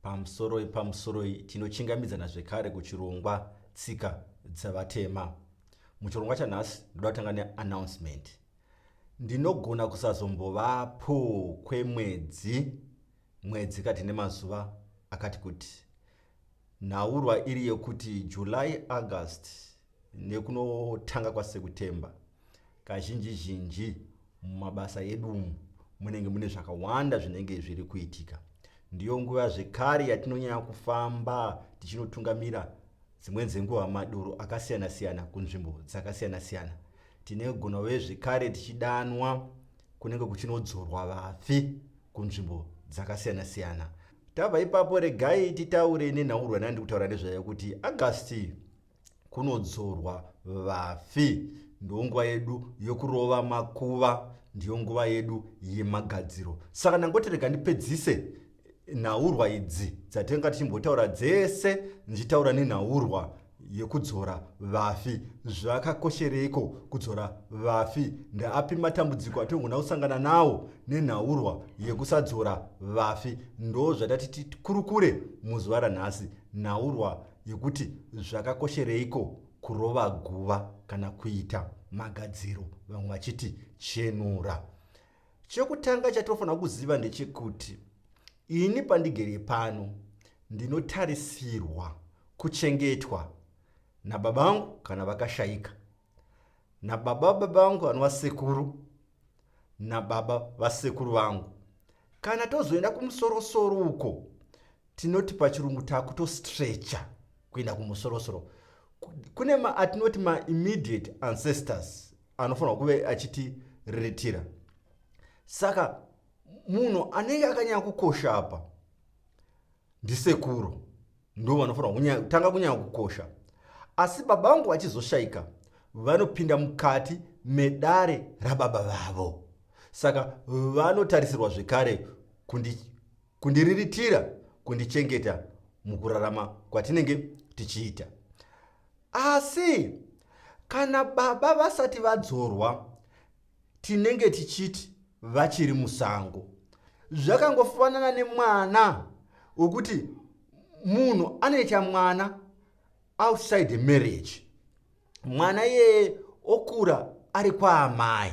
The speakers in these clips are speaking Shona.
Pamusoroi pamusoroi tinochingamidzana zvekare kuchirongwa tsika dzevatema. Muchirongwa chanhasi ndoda kutanga neannouncement. Ndinogona kusazombovapo kwemwedzi mwedzi kati nemazuva akati kuti. Nhaurwa iri yekuti July August nekunotanga kwaSekutemba Kazhinji zhinji mumabasa edu umu munenge mune zvakawanda zvinenge zviri kuitika. Ndiyo nguva zvekare yatinonyanya kufamba tichinotungamira dzimweni dzenguva madoro akasiyana siyana kunzvimbo dzakasiyana siyana. Tinogona uye zvekare tichidanwa kunenge kuchinodzorwa vafi kunzvimbo dzakasiyana siyana. Tabva ipapo regai titaure nenhaurwa yandiri kutaura nezvayo kuti Agasti kunodzorwa vafi ndiwo nguva yedu yokurova makuva ndiyo nguva yedu yemagadziro saka ndangotirega ndipedzise nhaurwa idzi dzatenga tichimbotaura dzese ndichitaura nenhaurwa yekudzora vafi zvakakoshereiko kudzora vafi ndaapi matambudziko atinogona kusangana nawo nenhaurwa yekusadzora vafi ndo zvatati tikurukure muzuva ranhasi nhaurwa yekuti zvakakoshereiko kurova guva kana kuita magadziro vamwe vachiti chenura chekutanga chatofanira kuziva ndechekuti ini pandigere pano ndinotarisirwa kuchengetwa nababa vangu kana vakashaika nababa baba vangu vanova sekuru nababa vasekuru vangu kana tozoenda kumusorosoro uko tinoti pachirungu takutostrecha kuenda kumusorosoro kune ma atinoti maimmediate ancestors anofanirwa kuve achitiriritira saka munhu anenge akanyanya kukosha apa ndisekuru ndo vanofanira kutanga kunyanya kukosha asi baba vangu vachizoshaika vanopinda mukati medare rababa vavo saka vanotarisirwa zvekare kundi, kundiriritira kundichengeta mukurarama kwatinenge tichiita asi kana baba vasati vadzorwa Tinenge tichiti vachiri musango. Zvakangofanana nemwana wekuti munhu anoita mwana outside the marriage. Mwana iyeye okura ari kwaamai.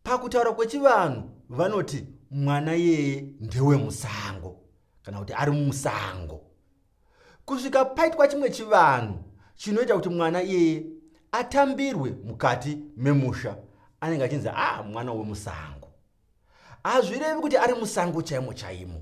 Pakutaura kwechivanhu vanoti mwana iyeye ndewemusango kana kuti ari mumusango. kusvika paitwa chimwe chivanhu chinoita kuti mwana iyeye atambirwe mukati memusha anenge achinzi a ah, mwana wemusango hazvirevi kuti ari musango chaimo chaimo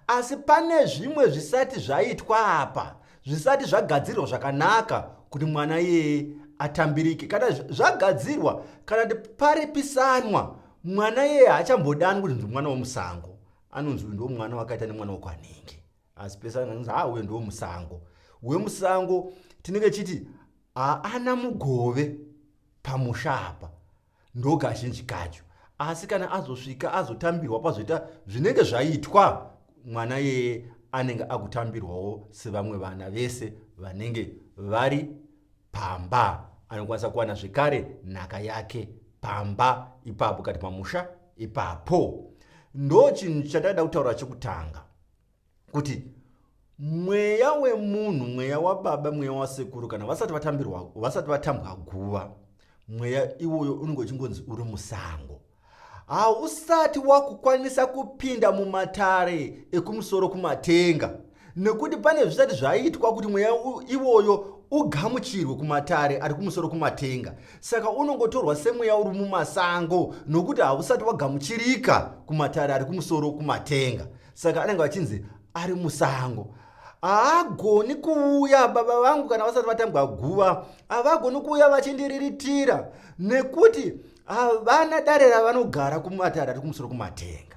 asi pane zvimwe zvisati zvaitwa apa zvisati zvagadzirwa zvakanaka kuti mwana iyeye atambirike kana zvagadzirwa kana kuti paripisanwa mwana iyeye haachambodanwi kuti ndimwana wemusango anonzi uyu ndo mwana wakaita nemwana wekwanhingi asi pesana nzi haa uyo ndomusango wemusango tinenge chiti haana mugove pamusha apa ndokazhinji kacho asi kana azosvika azotambirwa pazoita zvinenge zvaitwa mwana yeye anenge akutambirwawo sevamwe vana vese vanenge vari pamba anokwanisa kuwana zvekare nhaka yake pamba ipapo kati pamusha ipapo ndo chinhu chatakaida kutaura chekutanga kuti mweya wemunhu mweya wababa mweya wasekuru kana vasati vatambirwa vasati vatambwa guva mweya iwoyo unenge uchingonzi uri musango hausati wakukwanisa kupinda mumatare ekumusoro kumatenga nekuti pane zvisati zvaitwa kuti mweya iwoyo ugamuchirwe kumatare ari kumusoro kumatenga Saka unongotorwa semweya uri mumasango nokuti hausati wagamuchirika kumatare ari kumusoro kumatenga. Saka anenge vachinzi ari musango haagoni kuuya baba vangu kana vasati vatambwa guva havagoni kuuya vachindiriritira nekuti havana dare ravanogara kumatare ari kumusoro kumatenga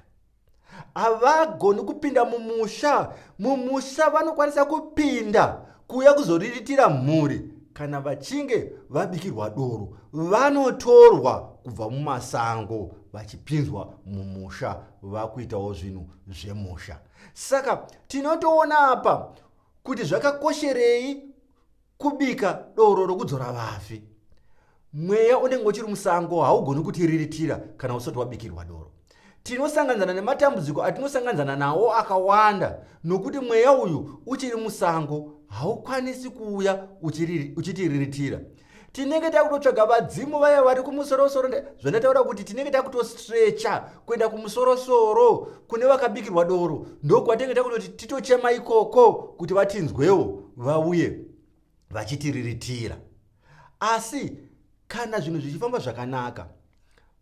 havagoni kupinda mumusha mumusha vanokwanisa kupinda kuuya kuzoriritira mhuri kana vachinge vabikirwa doro vanotorwa kubva mumasango vachipinzwa mumusha vakuitawo zvinhu zvemusha saka tinotoona apa kuti zvakakosherei Kubika doro rokudzora vafi. Mweya unenge uchiri musango haugoni kutiriritira kana usati wabikirwa doro. Tinosanganzana nematambudziko atinosanganzana nawo akawanda nokuti mweya uyu uchiri musango haukwanisi kuuya uchitiriritira. Tinenge takutotsvaga vadzimu vaya vari kumusorosoro zvandataura kuti tinenge takutostrecha kuenda kumusorosoro kune vakabikirwa doro ndokwatenge takunoti titochema ikoko kuti vatinzwewo vauye vachitiriritira asi kana zvinhu zvichifamba zvakanaka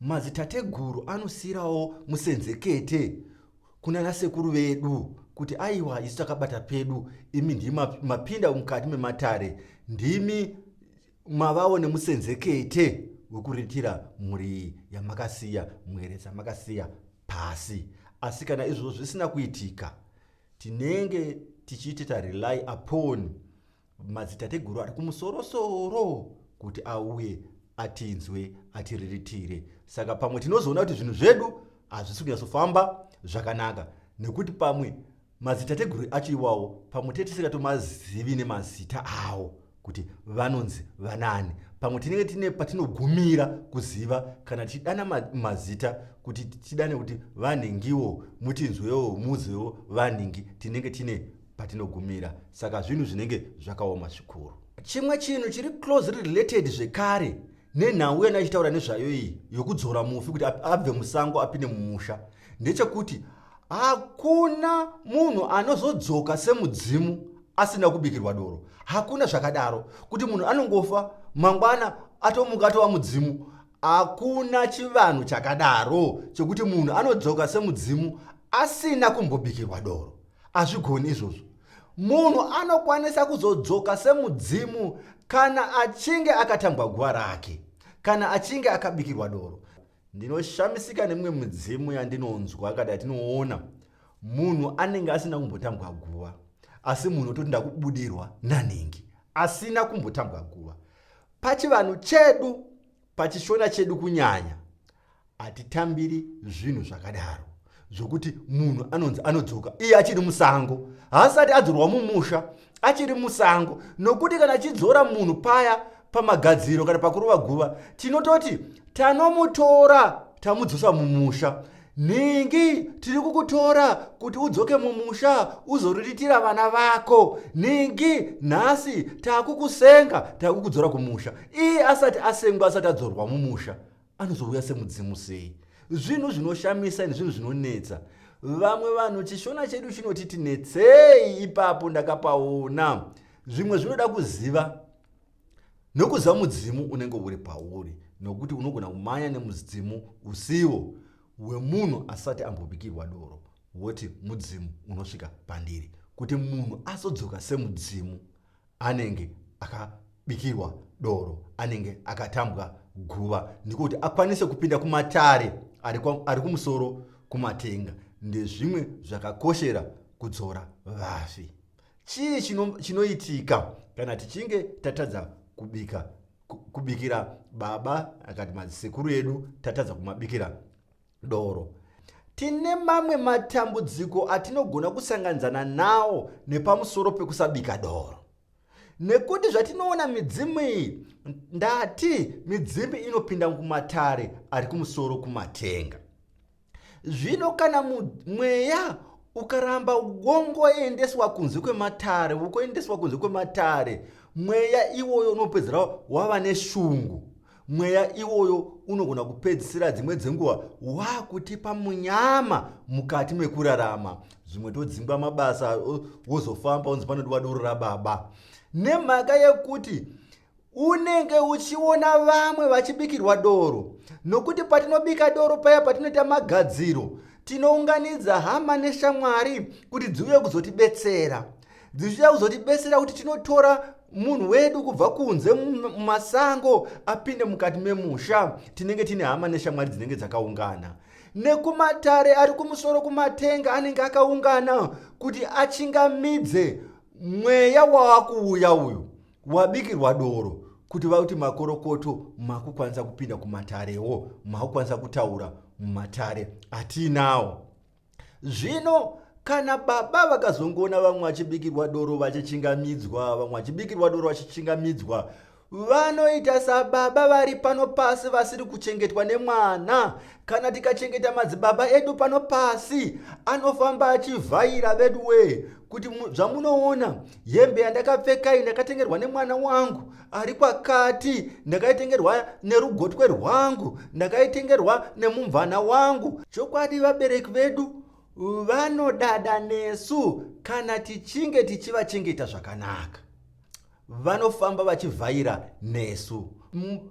madzitateguru anosiyirawo musenzekete kunana sekuru vedu kuti aiwa isu takabata pedu imi ndimi mapinda mukati mematare ndimi mavawo nemusenzekete wekuritira mhuri iyi yamakasiya mwere dzamakasiya pasi asi kana izvozvo zvisina kuitika tinenge tichiite tarely upon madzitateguru ari kumusorosoro kuti auye atinzwe atiriritire saka pamwe tinozoona kuti zvinhu zvedu hazvisi kunyatsofamba zvakanaka nekuti pamwe Madzitateguru acho iwawo pamwe tinenge tisingatomazivi nemazita awo kuti vanonzi vanaani. Pamwe tinenge tine patinogumira kuziva kana tichidana mazita kuti tidane kuti vanhingiwo mutinzwewo muzewo vanhingi tinenge tine patinogumira. Saka zvinhu zvinenge zvakaoma zvikuru. Chimwe chinhu chiri close related zvekare nenhau yandaichitaura nezvayo iyi yokudzora mufi kuti abve musango apinde mumusha ndechekuti hakuna munhu anozodzoka semudzimu asina kubikirwa doro hakuna zvakadaro kuti munhu anongofa mangwana atomuka atova mudzimu hakuna chivanhu chakadaro chekuti munhu anodzoka semudzimu asina kumbobikirwa doro hazvigoni izvozvo munhu anokwanisa kuzodzoka semudzimu kana achinge akatambwa guva rake kana achinge akabikirwa doro Ndinoshamisika nemimwe midzimu yandinonzwa kana yatinoona. Munhu anenge asina kumbotambwa guva, asi munhu ototi ndakubudirwa nanhingi asina kumbotambwa guva. Pachivanhu chedu, pachishona chedu kunyanya, hatitambiri zvinhu zvakadaro. zvokuti munhu anonzi anodzoka iye achiri musango haasati adzorwa mumusha achiri musango nokuti kana achidzora munhu paya pamagadziro kana pakurova guva tinototi tanomutora tamudzosa mumusha nhingi tiri kukutora kuti udzoke mumusha uzoriritira vana vako nhingi nhasi takukusenga takukudzora kumusha iye asati asengwa asati adzorwa mumusha anozouya semudzimu sei zvinhu zvinoshamisa ini zvinhu zvinonetsa vamwe vanhu chishona chedu chinoti tinetsei ipapo ndakapaona zvimwe zvinoda kuziva nokuziva mudzimu unenge uri pauri nokuti unogona kumanya nemudzimu usiwo wemunhu asati ambobikirwa doro woti mudzimu unosvika pandiri kuti munhu azodzoka semudzimu anenge akabikirwa doro anenge akatambwa guva ndiko kuti akwanise kupinda kumatare ari kumusoro kumatenga ndezvimwe zvakakoshera kudzora vafi chii chinoitika chino kana tichinge tatadza kubika kubikira baba akati madzisekuru edu tatadza kumabikira doro. Tine mamwe matambudziko atinogona kusanganidzana nawo nepamusoro pekusabika doro. Nekuti zvatinoona midzimu iyi, ndati midzimu inopinda mumatare ari kumusoro kumatenga. Zvino kana mweya ukaramba wongoendeswa kunze kwematare wokoendeswa kunze kwematare mweya iwoyo unopedzera wava neshungu mweya iwoyo unogona kupedzisira dzimwe dzenguva waakutipa munyama mukati mekurarama zvimwe todzingwa mabasa wozofamba unzi panodiwa doro rababa nemhaka yekuti unenge uchiona vamwe vachibikirwa doro nokuti patinobika doro paya patinoita magadziro tinounganidza hama neshamwari kuti dziuye kuzotibetsera dzichida kuzotibesera kuti tinotora munhu wedu kubva kunze mumasango apinde mukati memusha tinenge tine hama neshamwari dzinenge dzakaungana nekumatare ari kumusoro kumatenga anenge akaungana kuti achingamidze mweya waakuuya uyu wabikirwa doro kuti vakuti makorokoto makukwanisa kupinda kumatarewo makukwanisa kutaura mumatare atinawo zvino kana baba vakazongoona vamwe vachibikirwa doro vachichingamidzwa vamwe vachibikirwa doro vachichingamidzwa vanoita sababa vari pano pasi vasiri kuchengetwa nemwana kana tikachengeta madzibaba edu pano pasi anofamba achivhaira veduwee kuti zvamunoona hembe yandakapfekai ndakatengerwa nemwana wangu ari kwakati ndakaitengerwa nerugotwe rwangu ndakaitengerwa nemumvana wangu chokwadi vabereki vedu vanodada nesu kana tichinge tichivachengeta zvakanaka vanofamba vachivhaira nesu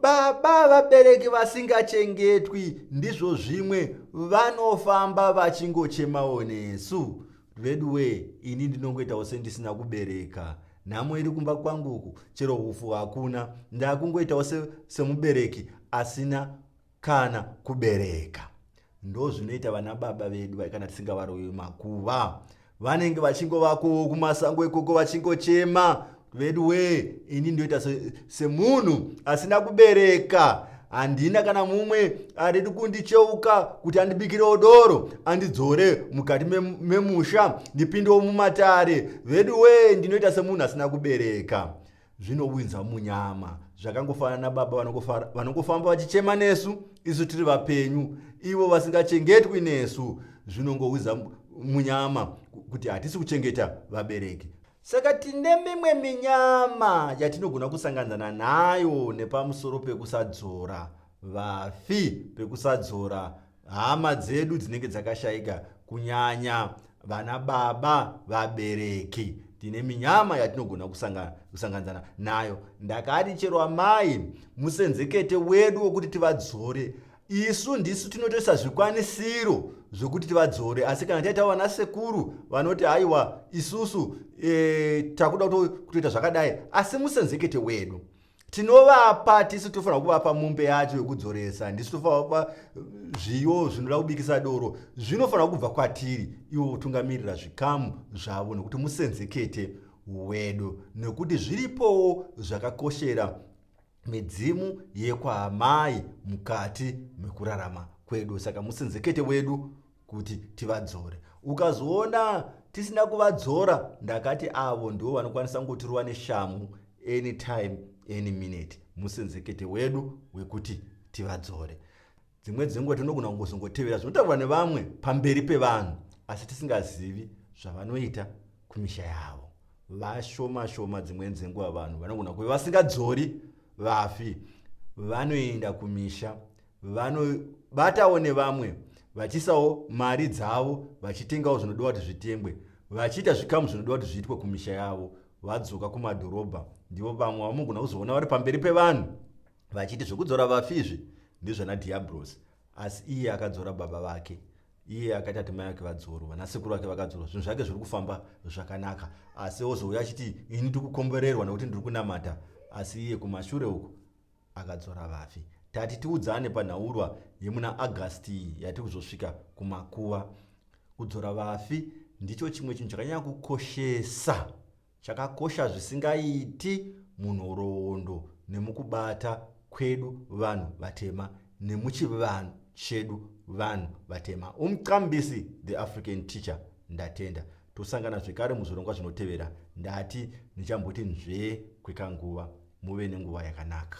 baba vabereki vasingachengetwi ndizvo zvimwe vanofamba vachingochemawo nesu Veduwee ini ndinongoitawo sendisina kubereka. Nhamo iri kumba kwangu uku chero hufu hakuna. Ndakungoitawo se, semubereki asina kana kubereka. Ndozvinoita vana baba vedu kana tisingavarovi makuva. Vanenge vachingovakowo kumasango ikoko vachingochema vedu wee ini ndoita semunhu se asina kubereka handina kana mumwe aridi kundicheuka kuti andibikirewo doro andidzore mukati memusha me ndipindewo mumatare vedu wee ndinoita semunhu asina kubereka zvinowinza munyama zvakangofanana nababa vanongofamba vachichema nesu isu tiri vapenyu ivo vasingachengetwi nesu zvinongowiza munyama kuti hatisi kuchengeta vabereki Saka tine mimwe minyama yatinogona kusanganzana nayo nepamusoro pekusadzora vafi, pekusadzora hama dzedu dzinenge dzakashaika, kunyanya vana baba vabereki tine minyama yatinogona kusanganzana nayo ndakati chero amai musenzekete wedu wokuti tivadzore isu ndisu tinotoisa zvikwanisiro zvokuti tivadzore asi kana taita vana sekuru vanoti haiwa isusu e, takuda kutoita zvakadai asi musenzekete wedu tinovapa tisu tofanira kuvapa mumbe yacho yokudzoresa ndisu tofanira kuvapa eh, zviyo zvinoda kubikisa doro zvinofanira kubva kwatiri ivo votungamirira zvikamu zvavo nokuti musenzekete wedu nokuti zviripowo zvakakoshera midzimu yekwaamai mukati mekurarama kwedu saka musenzekete wedu kuti tivadzore ukazoona tisina kuvadzora ndakati avo ndivo vanokwanisa ngotirova neshamhu anytime any minute musenzekete wedu wekuti tivadzore dzimwe dzenguva tinogona kungozongotevera zvinotaurwa nevamwe pamberi pevanhu asi tisingazivi zvavanoita kumisha yavo vashoma shoma dzimwe dzenguva vanhu vanogona kuve vasingadzori vafi vanoenda kumisha vanobatawo nevamwe vachiisawo mari dzavo vachitengawo zvinodiwa kuti zvitengwe vachiita zvikamu zvinodiwa kuti zviitwe kumisha yavo vadzoka kumadhorobha ndivo vamwe vamogona kuzoona vari pamberi pevanhu vachiti zvekudzora vafi izvi ndezvana diabros asi iye akadzora baba vake iye akaita kuti mai vake vadzorwa vanasekuru vake vakadzorwa zvinhu zvake zviri kufamba zvakanaka asi ozouya achiti ini ndiri kukomborerwa nekuti ndiri kunamata asi iye kumashure uku akadzora vafi tati tiudzane panhaurwa yemuna agasti iyi yatiri kuzosvika kumakuva kudzora vafi ndicho chimwe chinhu chakanyanya kukoshesa Chakakosha zvisingaiti munhoroondo nemukubata kwedu vanhu vatema nemuchivanhu chedu vanhu vatema. Umqambisi the African teacher ndatenda. Tosangana zvekare muzvirongwa zvinotevera. Ndati ndichamboti nzvee kwekanguva. Muve nenguva yakanaka.